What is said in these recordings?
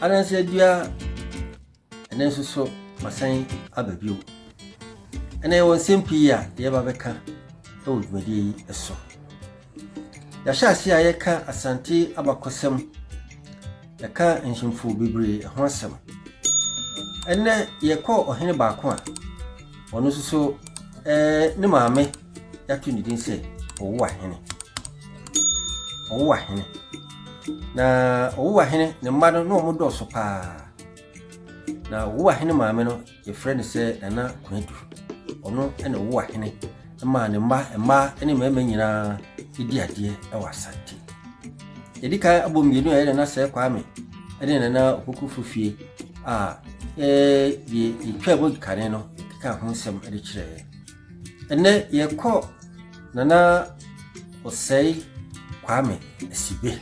Ananse dua, ɛnɛ nso so masan aba bio. Ɛnɛ yɛwɔ nsɛm pii a yɛba bɛka wɔ dwumadie yi so. Yɛahyɛ ase a yɛka Asante abakɔsɛm, yɛka nhemfo bebree ho asɛm. Ɛnɛ yɛkɔ ɔhene baako a ɔno nso so eh, ne maame yɛato ne din sɛ ɔwowa hene ɔwowa hene na ɔwowa hene ne mma no na wɔn dɔɔso paa na ɔwowa hene maame no yɛfrɛ no sɛ nana kwanadu ɔno na ɔwowa hene maa ne mma mmaa ne mmarima nyinaa di adeɛ wɔ asante yɛdi kan abɔ mmienu a yɛ nana sɛ kwame ne nana ɔkokofo fie a yɛtwa mu kane no ka ho nsɛm de kyerɛɛ Ɛnnɛ yɛkɔ Nana Osei Kwame Asibe.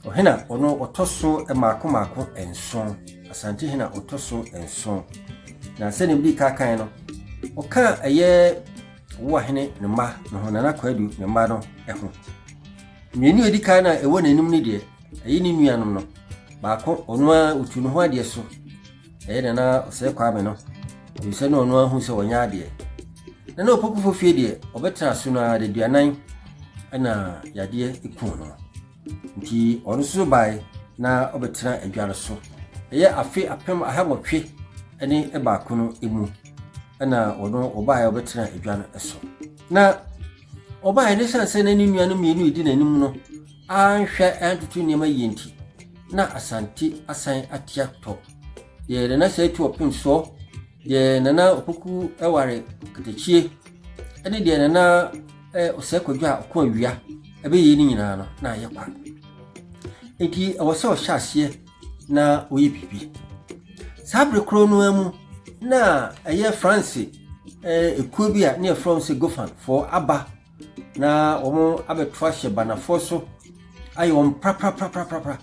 Ɔhena ɔno ɔtɔ so mmaako mmaako nson, Asante hena ɔtɔ so nson. Na sɛdeɛ mede ka kan no, ɔka ɛyɛ Owuahene ne mma ne ho, Nana Kwadu ne mma no ho. Mmienu a ɛdi kan no a ɛwɔ n'anim no deɛ, ɛyɛ ne nuanom no. Baako, ɔno ara ɔtu ne ho adeɛ so. Ɛyɛ na na ɔsɛ Kwame no, ɛfiri sɛ na ɔno ahu sɛ ɔnyɛ adeɛ. Na na ɔpokufo fie deɛ, ɔbɛtena so no ara daduanan ɛna yadeɛ kuu no. Nti ɔno nso bae na ɔbɛtena adwa no so. Ɛyɛ afe apem ahawɔtwe ne baako no mu ɛna ɔno ɔbae ɔbɛtena adwa no so. Na ɔbae ne sane sɛ na ne nuanom mmienu redi n'anim no anhwɛ antutu nneɛma yie nti, na Asante asan ate atɔ. Deɛ Nana Sɛɛtu Ɔpensɔ, deɛ Nana Opoku Ɛware Katakyie, ɛne deɛ Nana eh, Ɔsɛe Kwadwo a ɔko awia ɛbɛyɛ ne nyinaa no na ayɛ kwa. Enti ɛwɔ sɛ ɔhyɛ aseɛ na ɔyɛ biribi. Saa bere korɔ no ara mu na ɛyɛ France eh, ekuo bi a ne yɛfrɛ wɔn sɛ Gofanfoɔ aba Na wɔn abɛto ahyɛ banafoɔ so ayɛ wɔn praprapraprapra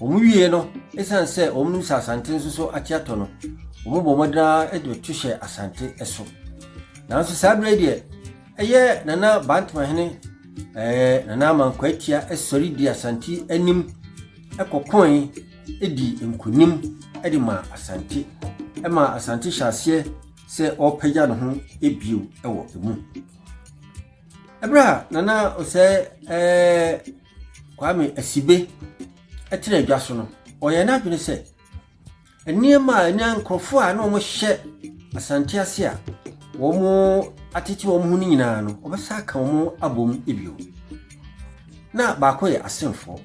wɔn wie no ɛsiane sɛ wɔn nim sɛ asante nso so ate atɔ no wɔn bɔ wɔn dena de to hyɛ asante so nanso saa berɛ deɛ ɛyɛ nana bantama hene ɛɛ nana amanko atia ɛsɔre di asante anim ɛkɔkɔn ɛdi nkunim ɛde ma asante ɛma asante hyɛ aseɛ sɛ ɔrepagya ne ho bio wɔ emu. Ɛberɛ a Nana Osei ɛɛ Kwame Asibe ɛtena adwa so no, ɔyɛ n'adwene sɛ nneɛma a ɛnɛ nkurɔfoɔ a na wɔhyɛ asante ase a wɔn atete wɔn ho no nyinaa no wɔbɛsa aka wɔn abom bio na baako yɛ asenfoɔ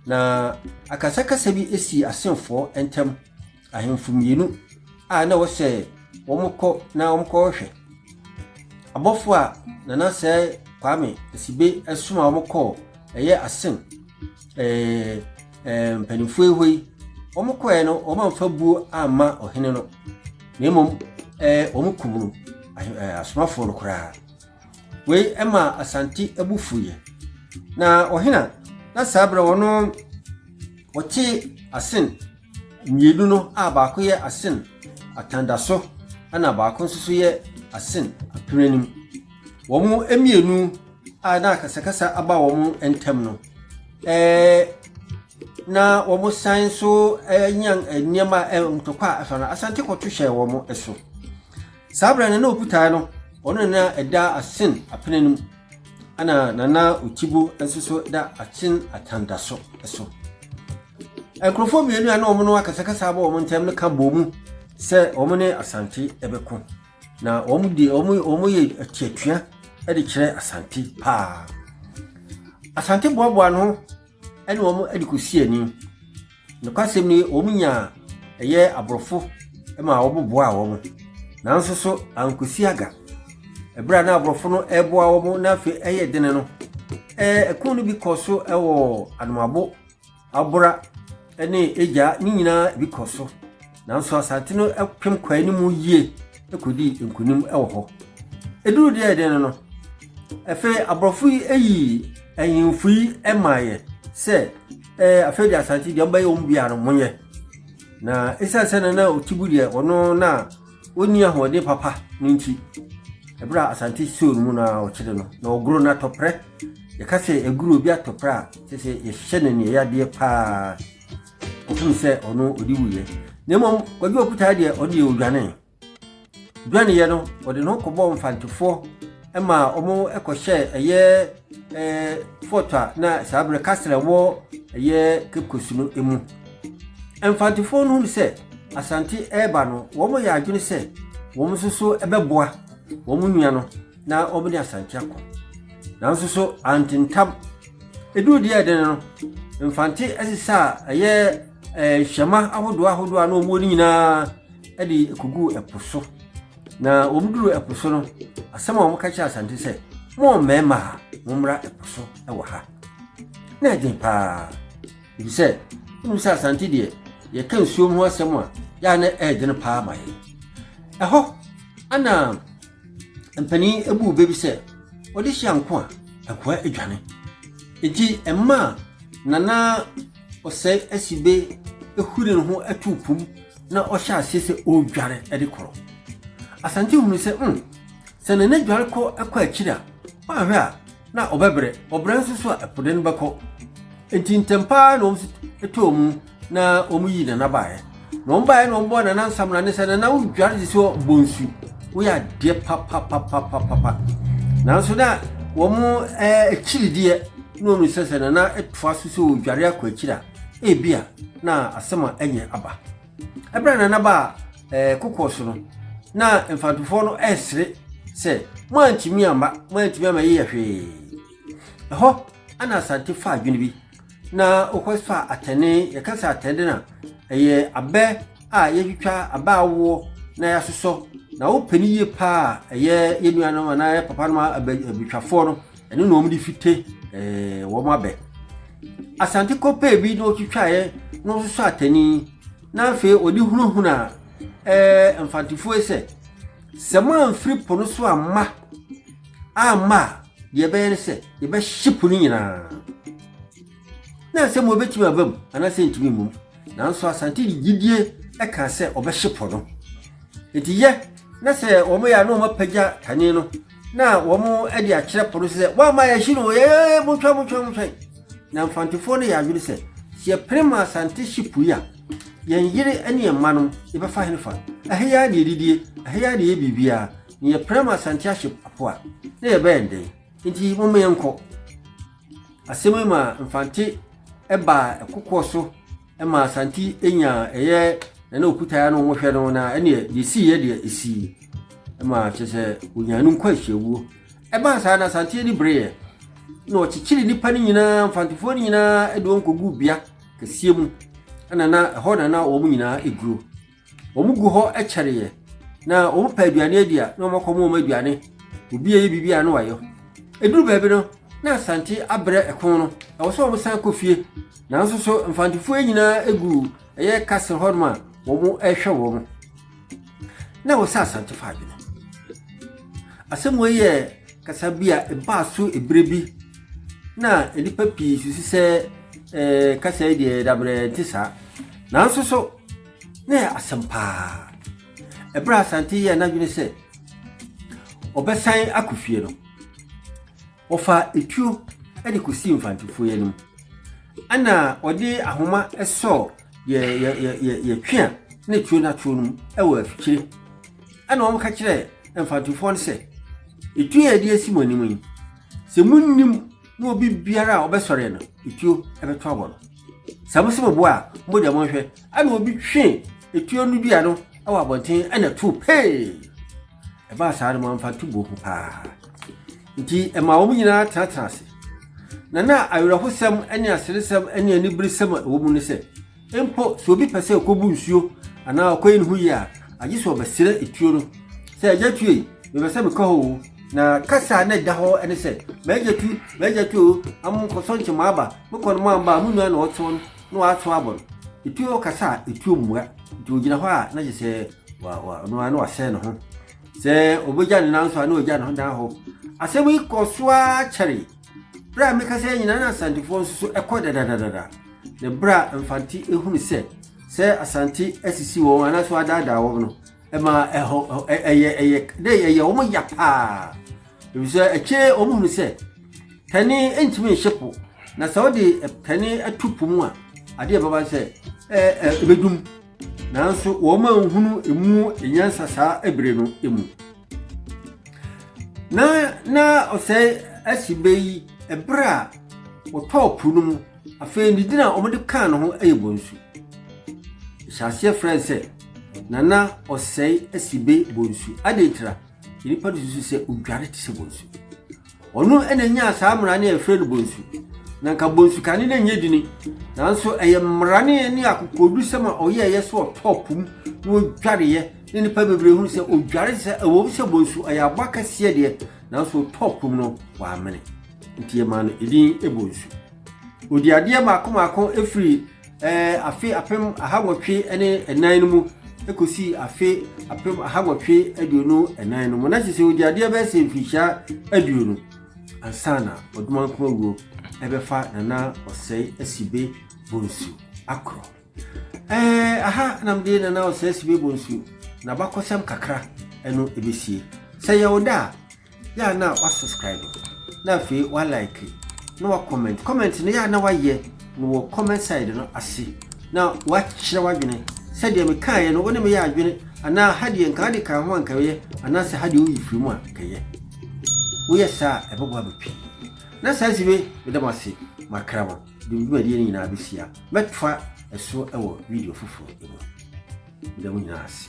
na akasakasa bi si asenfoɔ ntam Ahemfo mmienu a na ɛwɔ sɛ wɔkɔ na wɔkɔhwɛ. Abɔfo a Nana Sɛ Kwame Asibe ɛsom a wɔkɔɔ ɛyɛ asen ɛɛ ɛɛ mpanimfoɔ yi hɔ yi, wɔkɔɛ no wɔamfa buo amma ɔhene no, na mmom ɛɛ wɔkum no asomafoɔ no koraa. Wei ɛma Asante abu fuiɛ. Na ɔhena na saa berɛ wɔn wɔte asen Mmienu no a baako yɛ asen atandaso na baako nso so yɛ asen apereanim. Wɔn mmienu a na akasakasa aba wɔn ntam no, eh, na wɔsan nso anya nneɛma a ntɔkwa a ɛfa no asante kɔto hyɛɛ wɔn so. Saa berɛ no na ɔputae no ɔno na ɛda asen apereanim ɛna nana otibo nso so da asen atandaso so. Nkurɔfoɔ mmienu a na wɔn no akasakasa abɔ wɔn ntam no ka bɔɔ mu sɛ wɔn ne Asante bɛko. Na wɔn de wɔn wɔn yɛ atuatua de kyerɛ Asante paa. Asante boaboa no ɛne wɔn de kɔsi ani. Nokwasɛm ni wɔn nyaa ɛyɛ aborɔfo ma wɔboboaa wɔn. Nanso so ankɔsi aga. Ɛberɛ a na aborɔfo no ɛreboa wɔn na afei ɛyɛ dene no, ɛɛ ɛko no bi kɔɔ so wɔ Anomabo abora ne egya ne nyinaa bi kɔ so. Nanso Asante no pem kɔɔ anim yie kɔdii nkonim wɔ hɔ. Ɛduru deɛ ɛdɛn no no, afei aborɔfo yi yii ahemfo yi maeɛ sɛ ɛɛ afei de Asante deɛ ɔmbɛyɛ wɔn biara no monyɛ. Na ɛsiane sɛ na na Otibu deɛ ɔno na Onni ahoɔden papa no nti, bere a Asante Seoul mu no ara wɔkyere no, na ɔgoro no atɔprɛ. Yɛka sɛ yɛgoro obi atɔprɛ a, kyerɛ sɛ yɛhyehyɛ no aniɛyadeɛ paa. Ɔfom sɛ ɔno ɔde wuyɛ. Na mmom Kwagye Ɔkutaa deɛ ɔno deɛ ɔdwane. Dwaneyɛ no, ɔde ne ho kɔbɔɔ mfantefoɔ ma wɔn kɔhyɛɛ ɛyɛ ɛɛ fort a na saa berɛ castle a ɛwɔ ɛyɛ Cape Coast no mu. Mfantefoɔ no hunu sɛ Asante reba no, wɔyɛ adwene sɛ wɔn nso so bɛboa wɔn nua no na wɔn ne Asante akɔ. Nanso so antentam. Eduru deɛ ɛdene no, Mfante sesa a ɛyɛ ɛɛ hyɛma ahodoɔ ahodoɔ a na wɔn ne nyinaa de kogu ɛpo so. Na wɔn duru ɛpo so no, asɛm a wɔn ka kyerɛ Asante sɛ, mo mmarima a wɔmmra ɛpo so wɔ ha. Na ɛden paa. Efisɛ wonim sɛ Asante deɛ yɛka nsuom ho asɛm a yɛ a na ɛyɛ dene paa ma yɛn. Ɛhɔ ana mpanin ebu bɛ bi sɛ ɔde hyia nko a nkoa adwane. Enti ɛma nana ɔsɛe asi be ehuri ne ho atu pum na ɔhyɛ aseɛ sɛ ɔredware de korɔ. Asante hunu sɛ mm, sɛ nana dware kɔ kɔ akyiri a, woanhwɛ a na ɔbɛbrɛ. Ɔbrɛ nso so a, ɛpo de no bɛkɔ. Enti ntɛm paa na wɔn too mu na wɔn yii nana baeɛ. Na wɔn baeɛ na wɔn bɔɔ nana nsamena ne sɛ nana wodware de sɛ bɔ nsu. Woyɛ adeɛ papapapapapa. Nanso na wɔn ɛɛ akyirideɛ na wɔn sɛ sɛ nana toa so sɛ ɔdware akɔ akyiri a, ebi a na asɛm a ɛnyɛ aba. Ɛberɛ a Nana baa ɛɛ kokoɔ so no, na mfantofoɔ no ɛresere sɛ mo antumi amma mo antumi amma yɛyɛ hwee. Ɛhɔ ɛna asante fa adwene bi na ɔkɔ fa atɛne yɛka sɛ atɛne na ɛyɛ abɛ a yɛtwitwa abɛ awoɔ na yɛasosɔ na wopɛ ne yie paa ɛyɛ yɛn nuanom anaa yɛ papa nom abɛtwafoɔ no Ɛno na wɔn de fite eh, wɔn abɛ asante kɔpɛɛ bi na ɔtwitwaeɛ na ɔsosɔ atani na afei ɔde hunahuna eh, mfantefoɔ sɛ sɛ moamfiri po no so amma amma a deɛ ɛbɛyɛ ne sɛ yɛbɛhye po no nyinaa na asɛm wɔbɛtumi aba mu anaasɛ ntumi mmom nanso asante de gyidie ɛka sɛ ɔbɛhye po no nti yɛ na sɛ wɔn yɛ a na wɔn apagya kane no na wɔn de akyerɛ po no sɛ wɔama yɛhye no yɛyɛ montwa montwa montwa na mfantefoɔ no yɛ adwene sɛ sɛ yɛpere ma asante hye pui a yɛn yere ne yɛn mma no yɛbɛfa hene fa ɛhe yɛ ne yɛdidie ɛhe yɛ ne yɛ biribiara na yɛpere ma asante ahye po a na yɛbɛyɛ ndɛn nti moma yɛnkɔ asɛm yi ma mfante ɛbaa ɛkokoɔ so ɛma asanti nya ɛyɛ ɛna okuta ano wɔn hwɛ no na ɛna yɛsi yɛ deɛ esi ɛma kyɛ sɛ onyaa no nkɔ ahyiawuo ɛbaa saa na asanti ani bere yɛ na ɔkyekyere nipa no nyinaa mfantofoɔ no nyinaa ɛde wɔn kogu bea kɛseɛ mu ɛna na ɛhɔ na na wɔn nyinaa eguro Wɔn gu hɔ kyɛreɛ, na wɔn pɛ aduane adi a, na wɔn akɔ wɔn aduane. Obi yɛ biribi a na wayɛ ho. Eduru baabi no, na Asante abrɛ ɛko no, ɛwɔ sɛ wɔn san kɔ fie. Nanso so mfantefoɔ nyinaa egu ɛyɛ castle hɔ nom a wɔn rehwɛ wɔn. Na ɛwɔ sɛ Asante fa adwene. Asɛm wei yɛ kasa bi a ɛbaa so ebere bi na nnipa pii susu sɛ ɛɛ kasa yi deɛ dabrɛ nti saa. Nanso so Na ɛyɛ asɛm paa. Ɛberɛ a Asante yɛɛ n'adwene sɛ ɔbɛsan akɔ fie no, wɔfaa etuo de kɔsii mfantefoɔ yi anim. Ɛna ɔde ahoma sɔɔ yɛ yɛ yɛ yɛ yɛ twe a na etuo no ato no mu wɔ afikyire. Ɛna wɔn ka kyerɛɛ mfantefoɔ no sɛ, etuo a yɛde asi mo anim yi, sɛ munnim na obi biara a ɔbɛsɔre no etuo bɛto abɔ no sɛ mo se mo boa a mogya mo nhwɛ ɛna obi twe etuo no dua no wɔ abɔnten ɛna to pee ɛbaa saa no mamfa to buo ho paa nti ɛma wɔn nyinaa tenatena ase na na awerɛhosɛm ne aseresɛm ne aniberesɛm a ɛwɔ mu no sɛ Mpo sɛ obi pɛ sɛ okobu nsuo anaa ɔkɔyi ne ho yie a, agye sɛ ɔbɛsrɛ etuo no sɛ, Agya tu ei, mepɛ sɛ mekɔ hɔ o. Na kasa a na ɛda hɔ ne sɛ, M'agya tu, m'agya tu o, ama monkɔsɔ nkye moaba, mokɔ no moamba a, mo nua na ɔtoo no na wato abɔ no. Etuo kasa a, etuo mmua. Nti ogyina hɔ a, na kyerɛ sɛ wa, wa, ɔno ara na wasɛe ne ho. Sɛ obegya ne nan nso a, na ogya ne ho dan hɔ. Asɛm yi kɔɔ so ara kyɛree. Berɛ a mekasa yɛ nyinaa na Asantefoɔ nso so ɛkɔ dadadadada. Na berɛ a Mfante ehunu sɛ sɛ Asante asisi wɔn anaasɛ wadaadaa wɔn no, ɛma ɛhɔ ɛyɛ ɛyɛ dɛ ɛyɛ wɔn ya paa. Efisɛ akyire wɔn hunu sɛ pɛne ntumi nhyɛ po na sɛ wɔde pɛne ato po mu a adeɛ bɛba sɛ ɛbɛdum nanso wɔn anhunu emu nyansa saa ebire no mu. Na na ɔsɛe asi bɛ yi ɛberɛ a wɔtɔɔ po no mu. Afei ne din a wɔde kaa ne ho yɛ Bonsu. Hyɛ aseɛ frɛ sɛ Nana Ɔsɛe Asibe Bonsu. Adɛn tira? Nnipa no susu sɛ odware te sɛ Bonsu. Ɔno na nyaa saa mmara no a yɛfrɛ no bonsu. Na nka bonsu kane no nyɛ dini, nanso ɛyɛ mmara ne ne akokodusɛm a ɔyɛɛyɛ sɛ ɔtɔɔ po mu na ɔdwareeɛ ne nnipa bebree hunu sɛ ɔdware sɛ ɛwɔ mu sɛ bonsu ɔyɛ aboa kɛseɛ deɛ nanso ɔtɔɔ po mu no wɔamene nti yɛmaa no edin bonsu. Ɔdi adeɛ mmaako mmaako firi Ɛɛ afe apem ahawɔtwe ne ɛnan no mu kɔsi afe apem ahawɔtwe aduonu ɛnan no mu na kyesɛ ɔdi adeɛ bɛyɛ sɛ mfirihyia aduonu ansa na ɔdomankoma wuo ɛbɛfa nana ɔsɛe asibe bonsu akorɔ ɛɛ aha namde nana ɔsɛe asibe bonsu na bakɔsɛm kakra ɛno ɛbɛsie sɛ yɛwo da a Yɛ a na woasubscribe, na afei woalike, na woacomment. Comment no yɛ a na woayɛ no wɔ comment side no ase, na woakyerɛ w'adwene. Sɛdeɛ mekaeɛ no, wo ne me yɛ adwene anaa ha deɛ nka wode ka ho a nka yɛ anaasɛ ha deɛ woyi firi mu a nka yɛ. Woyɛ saa a, ɛbɛboa me pii. Na saa nti me meda mo ase makra mo de me dwumadie no nyinaa bɛsi a mɛtoa ɛso wɔ video foforɔ mu. Meda mo nyinaa ase.